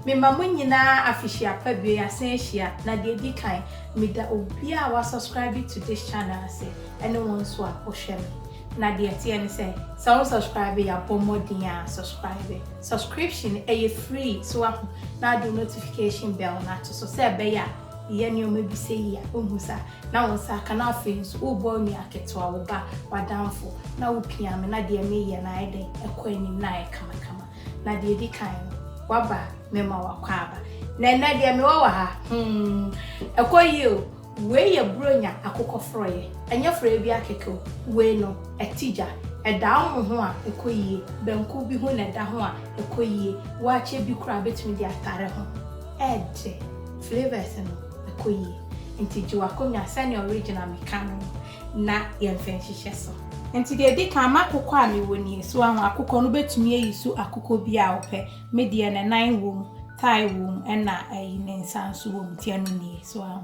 Mema mo nyinaa afehyia pa bio yɛasan ahyia na deɛ ɛdi kan meda obiara a wasubscribe to this channel ase ɛne wɔn nso a wɔhwɛ me na deɛ ɛteɛ ne sɛ sɛ wo subscribe yɛ abɔ mmɔden a subscribe subscription ɛyɛ free so aho na ade notification bell no ato so sɛ ɛbɛyɛ a yɛ nneɛma bi sɛ yi a, wohu sɛ a, na wo nsa aka, na afei nso wobɔ onua ketewa, wo ba, w'adamfo, na wopia me, na deɛ mereyɛ no ayɛ dɛn? Ɛkɔ anim, na ayɛ kamakama. Na deɛ ɛdi kan no, woaba a, mɛma w'akwaaba. Na ɛnnɛ deɛ mewɔ wɔ ha, hmm, ɛkɔ yie o, wei yɛ Buronya akokɔ forɔeɛ, ɛnyɛ forɔeɛ biara kɛkɛ o, wei no, ɛte gya, ɛda ɔmo ho a, ɛkɔ yie, banku bi ho na ɛda ho a, ɛkɔ yie, waakye bi koraa bɛtumi de atare ho. Ɛɛdɛ, flavours no ɛkɔ yie. Nti gye w'akonnwa sɛdeɛ original meka no no na yɛmfa nhyehyɛ so. Nti deɛ ɛdi kan m'akokɔ a mewɔ nie, so wahu, akokɔ no bɛtumi ayi so akokɔ biara a ɔpɛ, me deɛ ne nan wɔ mu, thigh wɔ mu ɛna ayi ne nsa nso wɔ mu nti ɛno nie, so wahu.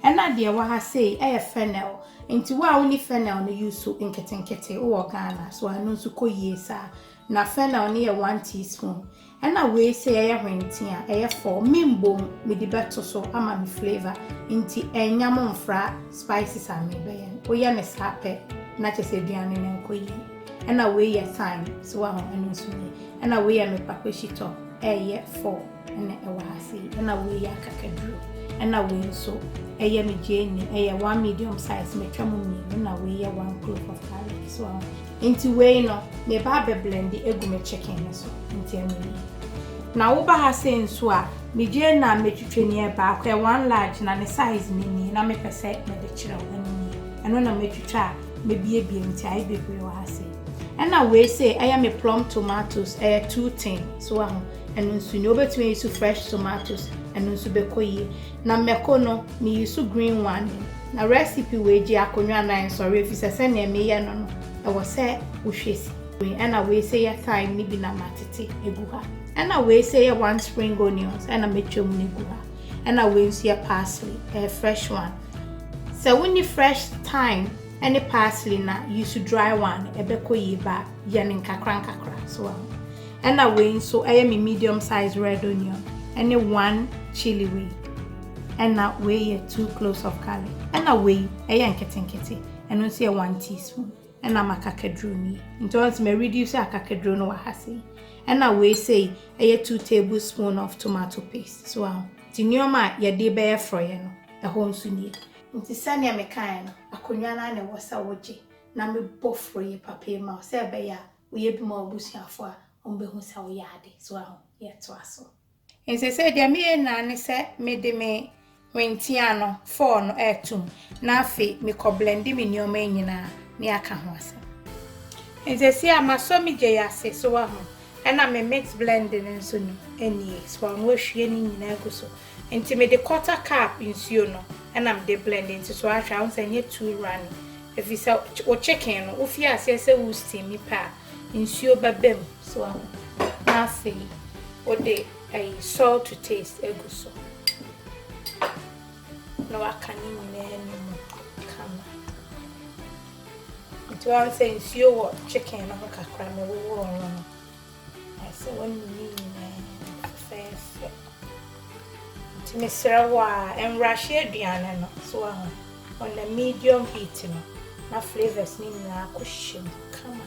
Ɛna deɛ ɛwɔ ha sei ɛyɛ fennel, nti wo a wonni fennel no use so nketenkete, wowɔ Ghana so wahu, ɛno nso kɔ yie saa. Na fennel no yɛ one teaspoon, Ɛna wei sɛ yɛyɛ hwentee a ɛyɛ fɔɔ me mbom mede bɛto so ama no flavour nti ɛnya mo mfra spices a merebɛyɛ no woyɛ no saa pɛ na kyɛ sɛ aduane no nkɔ yie ɛna wei yɛ thyme so waho ɛno nso nie ɛna wei yɛ me kpakpa shitɔ ɛyɛ fɔɔ ɛna ɛwɔ ha sei ɛna wei yɛ akakaduro ɛna wei nso ɛyɛ me gyeene ɛyɛ one medium size metwa mu mmienu na wei yɛ one clove of garlic so waho Nti wei no meba abɛ blende agu me chicken he so nti ɛno nie. Na woba ha sei nso a medware na metwitwe ni ɛ baako ɛ one large na ne size no nie na mepɛ sɛ mede kyerɛ wo ɛno nie ɛno na matwitwa a mabiebie nti ayɛ bebree wɔ ha sei. Ɛna wei sei ɛyɛ me plum tomatoes ɛyɛ two tin so wahu ɛno nso nie wobɛtumi ayi so fresh tomatoes ɛno nso bɛkɔ yie Na mako no, me use green wine. Na recipe wei gye akonwa nan nsɔre efisɛ sɛnea me yɛ no no, ɛwɔ sɛ wo hwɛ si. Ɛna wei sɛ yɛ thyme no bi na ma tete egu ha. Ɛna wei sɛ yɛ one spring onions ɛna me twɛ mu no gu ha. Ɛna wei nso yɛ parsley, ɛyɛ fresh one. Sɛ wo ni fresh thyme ɛne parsley na use dry one, ɛbɛ kɔ yie ba yɛ no nkakra nkakra so ahu. Ɛna wei nso ɛyɛ me medium size red onion ɛne one chili wei. Ɛna wei yɛ two cloves of garlic. Ɛna wei ɛyɛ nketenkete ɛno nso yɛ one teaspoon. Ɛna m'akakaduro nie. Nti wɔn sɛ mɛ reduce akakaduro no wɔ ha sei. Ɛna wei sei ɛyɛ two tablespoon of tomato paste. So aho. Nti nneɛma a yɛde bɛyɛ frɔyɛ no ɛhɔ nso nie. Nti sɛdeɛ mekaeɛ no, akonnwa no ara na ɛwɔ sɛ wogye na mebɔ frɔyɛ papa yi ma wo sɛ ɛbɛyɛ a Woyɛ bi ma w'abusuafo a, wɔbehu sɛ woyɛ ade. So ahu? Yɛ toa so. Enti sɛɛ deɛ meyɛ nyinaa ne sɛ mede me hwentia no, fɔɔ no atum, na afei mekɔ blende me nneɛma nyinaa ne aka ho asɛm. Enti sɛɛ a masɔ me gya yi ase, so ahu, ɛna me mix blende no nso ni, nie, so ahu, wahwie ne nyinaa agu so, Nti me de quarter cup nsuo no ɛna me de blend nti so ahwɛ a wohu sɛ ɛnyɛ too runny ɛfiri sɛ wo chicken no wo fie aseɛ sɛ wo steam mi pɛ a nsuo bɛbɛ mu so ahu na afei wo de ɛyi salt to taste egu so na waka ne nyinaa ne mu kama nti wɔn sɛ nsuo wɔ chicken no ho kakra na wɔwɔ wɔn no. Ɛsɛ wɔn ne ne nyinaa fɛfɛɛfɛ. Nti mesrɛ wo a ɛnrahye aduane no so ahu. Ɔna medium heat no na flavors ne nyinaa kɔ hyɛ mu kama.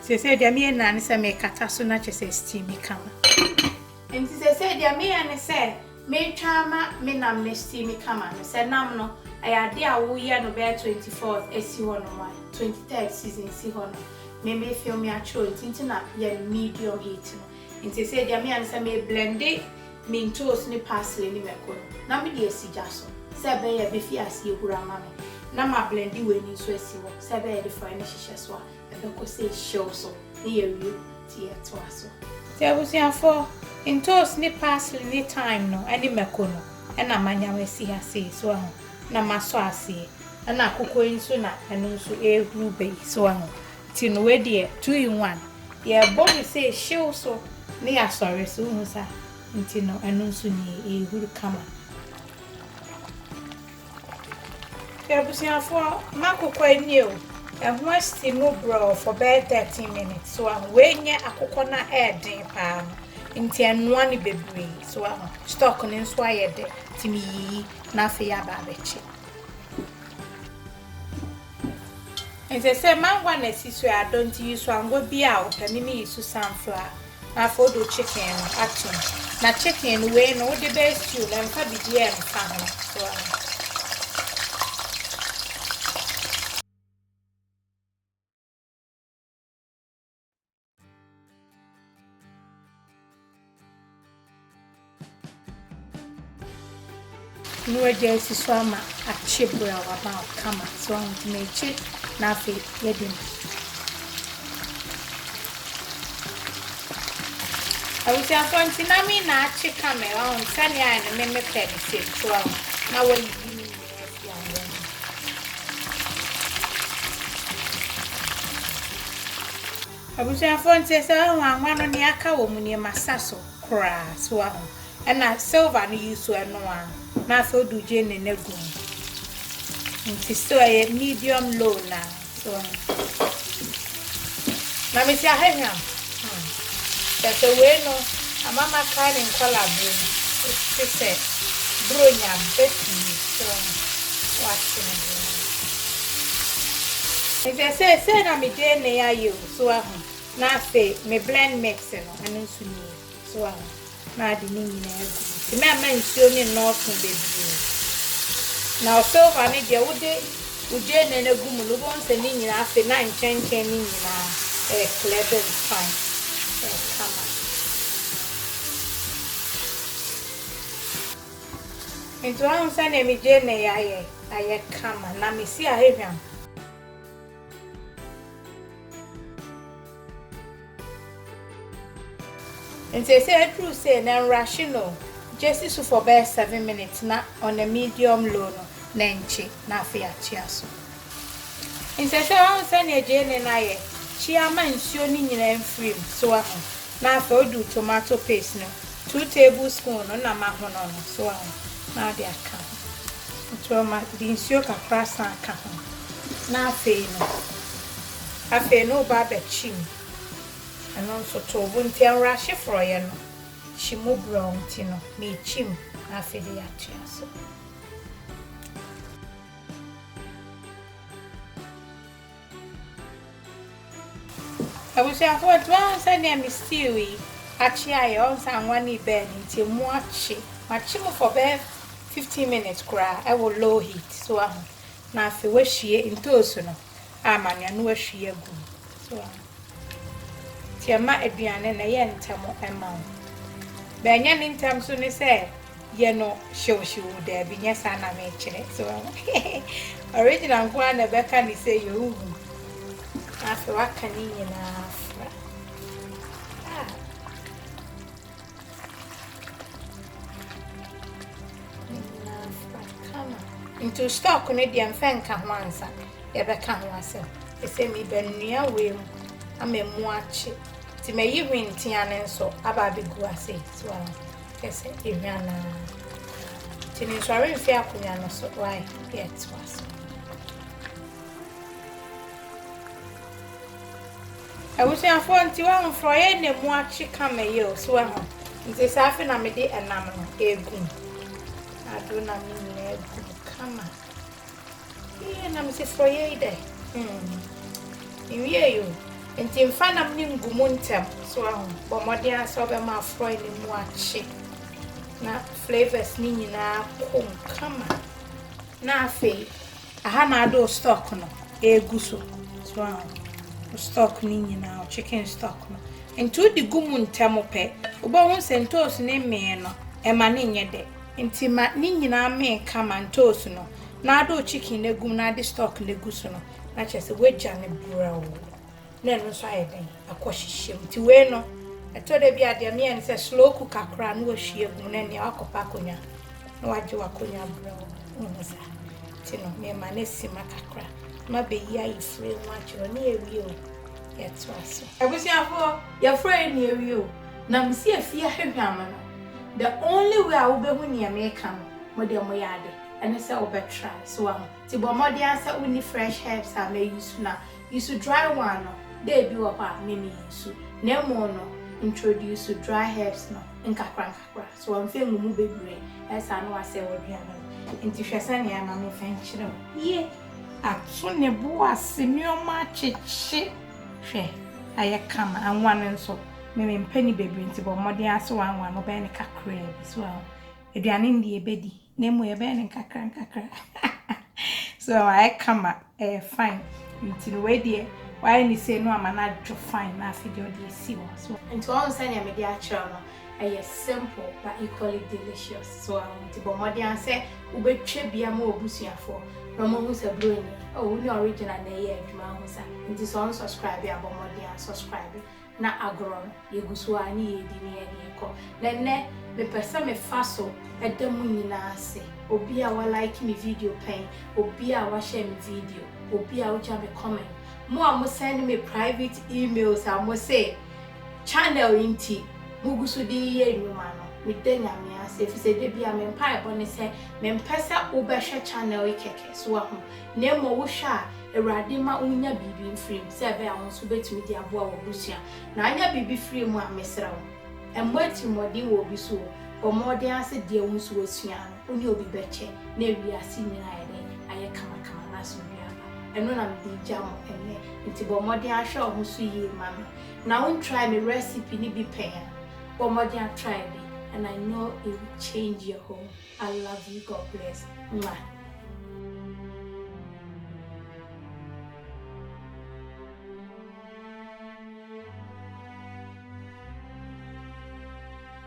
Sese deɛ meyɛ nyinaa ne sɛ mekata so na kyɛ sɛ steam kama. Nti sese deɛ meyɛ ne sɛ Meretwa ama me nam no asi me kama no, sɛ nam no, ɛyɛ ade a woyɛ no bɛyɛ twenty fours asi hɔ nom a, twenty third season si hɔ no, me me film me atwerɛ nti nti na yɛ no medium heat no. Nti sesei deɛ meyɛ ne sɛ me blende me ntoosi ne parsley ne mako no na me de asi gya so sɛ ɛbɛyɛ ɛbɛfi aseɛ huru ama me na ma blende wei no nso asi hɔ sɛ ɛbɛyɛ de forɔeɛ no hyehyɛ so a Ɛbɛkɔ sɛ ehyew so na yɛawie nti yɛtoa so. Nti abusuafoɔ, ntoosi ne parsley ne thyme no ne mako no na manya masi ha sei, so wahu, na masɔ aseɛ. Ɛna akukuo yi nso na ɛno nso ɛrehuru ba yi, so wahu. Nti no wei deɛ two in one, yɛrebɔ no sɛ ehyew so na yɛasɔre so, wohu saa? Nti no ɛno nso nie, ɛrehuru kama. Abusuafoɔ m'akokɔ nie o, ɛho asi mu brɔɔ for bɛyɛ thirteen minutes, so wahu, wei nyɛ akokɔ no a ɛyɛ den paa no, nti ɛnoa no bebree, so wahu, stock no nso ayɛ dɛ, nti me yiyi na afei aba abɛkye. Ɛsɛ sɛ mangwa na ɛsi so yɛ adɔ, nti yi so angwa biara a wopɛ, me me yi so sunflower. Na afei wode wo chicken no ato mu. Na chicken no wei no wode bɛyɛ stew no ɛmfa biribiara ɛmfa ho so ate. Ne wagya asi so ama akye bere a waba hɔ kama so ɔho nti na akye na afei yɛde mu abusuafoɔ nti na me na akye kama ɔho sɛnea ayɛ no me mepɛ ne sɛ so ɔho na wayiyi ne nyinaa fi awoɔ no Abusuafoɔ ntie sɛ woahu anwa no nea aka wɔ mu nie ma sa so koraa so woahu ɛna silver no yi so ɛnoa na afei wode wo gyeene no agu mu nti so ɛyɛ medium low na so woahu na mesi ahwehwɛm hmm. kyɛ sɛ wei no ama makae ne nkɔla berɛ mu ɛte sɛ buronya bɛ pii so woahu wate ne Nkyɛ seesei na me gyeene ayɛ o, so wahu, na afei me blend mix no, ɛno nso nie, so wahu, na ade ne nyinaa agu mu nti mɛmma nsuo no nnɔɔso bebree. Na wo silver no deɛ wode wo gyeene no agu mu no, wobɛhu sɛ ne nyinaa afei na nkyɛnkyɛn no nyinaa ɛreklɛ bam fine, ɛyɛ kama. Nti wahu sɛdeɛ me gyeenɛ yi ayɛ ayɛ kama na me si ahwehwam. Nti ɛsɛ aduru sei na nrushe no o, gyesi so for bɛyɛ seven minutes na on a medium low no na ɛnkye na afei akyea so. Nti ɛsɛ wahu sɛdeɛ gyeenɛ no ayɛ kyea ma nsuo no nyinaa mfiri mu so wahu. Na afei odu tomato paste no, two table spoon no na mahono no, so wahu, na ɔde aka ho. Nti ɔma de nsuo kakra san ka ho. Na afei no, afei no woba abɛkye mu. Ɛno nso to wo bo, nti ɛnrahye forɔeɛ no, kye mu brɛoo nti no, merekye mu, na afei de yɛatoa so. Abusuafo ɔtse ɔho sɛdeɛ me stew yi akye ayɛ ɔho sɛ anwa no ibɛn no nti emu akye makye mu for bɛyɛ fifteen minutes koraa ɛwɔ low heat so waho na afei wahwie ntoosu no a manoa no wahwie agu mu so waho nti ɛma aduane no ɛyɛ ntɛm ɛma wo bɛnyɛ ne ntɛm so ne sɛ. yɛ no hyewhyeww daabi nyɛ saa na mekyerɛ so wahu original nko ara na ɛbɛka ne sɛ yɛ wohu afei waka ne nyinaa fra ah. nti stock no deɛ mfɛ nka ho ansa yɛbɛka ho asɛm ɛsɛ meba nnua wei mu ama mu akye nti mayi hwentia no nso aba abɛgu ase so Kyɛ sɛ ehwa no ara. Nti no nsɔre mfi akonnwa no so wai yɛtoa so. Abusuafoɔ nti wahu forɔyɛ na mu akye kama yi o so wahu nti saa afe na mede ɛnam no ɛgu mu ado na me nyinaa gu mu kama. Eii na mese forɔyɛ yi dɛ hmm nwiei o nti mfa nam no ngu mu ntɛm so wahu bɔ mmɔden ara sɛ wobɛma aforɔyɛ no mu akye na flavours no nyinaa kɔ mu kama na afei aha na ade wo stock no ɛgu so so wahu wo stock no nyinaa wo chicken stock no nti wode gu mu ntɛm pɛ wobɛhu sɛ ntoosi no mmee no ɛma no nyɛ dɛ Nti ma ne nyinaa mmee ka ma ntoosi no na ade wo chicken no agu mu na ade stock no agu so no na kyerɛ sɛ woagya no brɛoo na ɛno nso ayɛ dɛn akɔ hyehyɛ mu nti wei no ɛtɔ da bi a deɛ meyɛ ne sɛ slow cooker koraa na wahwie agu mu na ɛnea wakɔpɛ akonnwa na wagye wakonnwa brɛoo wohu saa nti no mema no asi ma kakra ma bɛyi ayi firi ho akyerɛ ne awie o yɛtoa so abusuafoɔ yɛfrɛ ne awie o Na misi afie ahwehwɛ ama no. The only way a wobehu nea meka no, mo deɛ moyɛ ade, ɛne sɛ wobɛtry, so wahu? Nti bɔ mmɔden ara sɛ wonni fresh herbs a ma use no a, use dry one no, dɛ ebi wɔ hɔ a me me use, na mmom no introduce dry herbs no nkakra nkakra, so wamfa angu mu bebree, ɛyɛ saa na wasɛe w'aduane no. Nti hwɛ sɛnea ɛma memfa nkyerɛ wo. Ye. Ato ne bo ase nneɛma akyekye. Hwɛ, ayɛ kama, anwa no nso. Me, mempɛ ne bebree nti, bɔ mmɔden ara sɛ woanwa no, wobɛyɛ no kakraa bi. So woahu? Aduane no deɛ, yɛbɛdi, na mmom yɛbɛyɛ no nkakrankakra. So woahu? Ayɛ kama, ɛyɛ fine. Nti no, wei deɛ, woayɛ no sei na woama no adwo fine, na afei deɛ, wode asi hɔ. So woahu? Nti woahu sɛdeɛ mede akyerɛ wo no? Ɛyɛ simple but equally delicious so a ho nti bɔ mmɔden ara sɛ wobɛtwa bi ama w'abusuafoɔ na wɔahu sɛ bro ni oh wo ne original na ɛyɛ adwuma ahu sa nti sɛ wɔn subscribe a bɔ mmɔden ara subscribe na agorɔ no yɛgu so ara ne yɛredi ne yɛde rekɔ na ɛnnɛ mepɛ sɛ mefa so da mo nyinaa ase obi a wa like me video pɛn obi a wa share me video obi a wogya me comment mo a mo send me private emails a mo se Channel yi nti mugu so de yeyɛ nnwuma no, meda Nyame ase efisɛ da biara me mpaebɔ ne sɛ mempɛ sɛ wobɛhwɛ channel yi kɛkɛ, so wahu, na mmom wohwɛ a Awurade mma wunya biribi mfiri mu sɛ ɛbɛyɛ a wo nso wobɛtumi de aboa w'abusua. Na anya biribi firi mu a, mesrɛ wo, mmɔ atirimmɔden wɔ obi so o, bɔ mmɔɔden ara sɛ deɛ wo nso woasua no, wo ne obi bɛkyɛ na wiase nyinaa ayɛ dɛn? ayɛ kamakama na asomdwoeɛ aba. Ɛno na mede regya mo ɛnnɛ, enti bɔ mmɔden ara hwɛ wo ho so yie ma me. Na wo ntrae me recipe no bi pɛn a, bɔ mmɔden ara try bi and I know it will change your home. I love you, God bless. Mwah.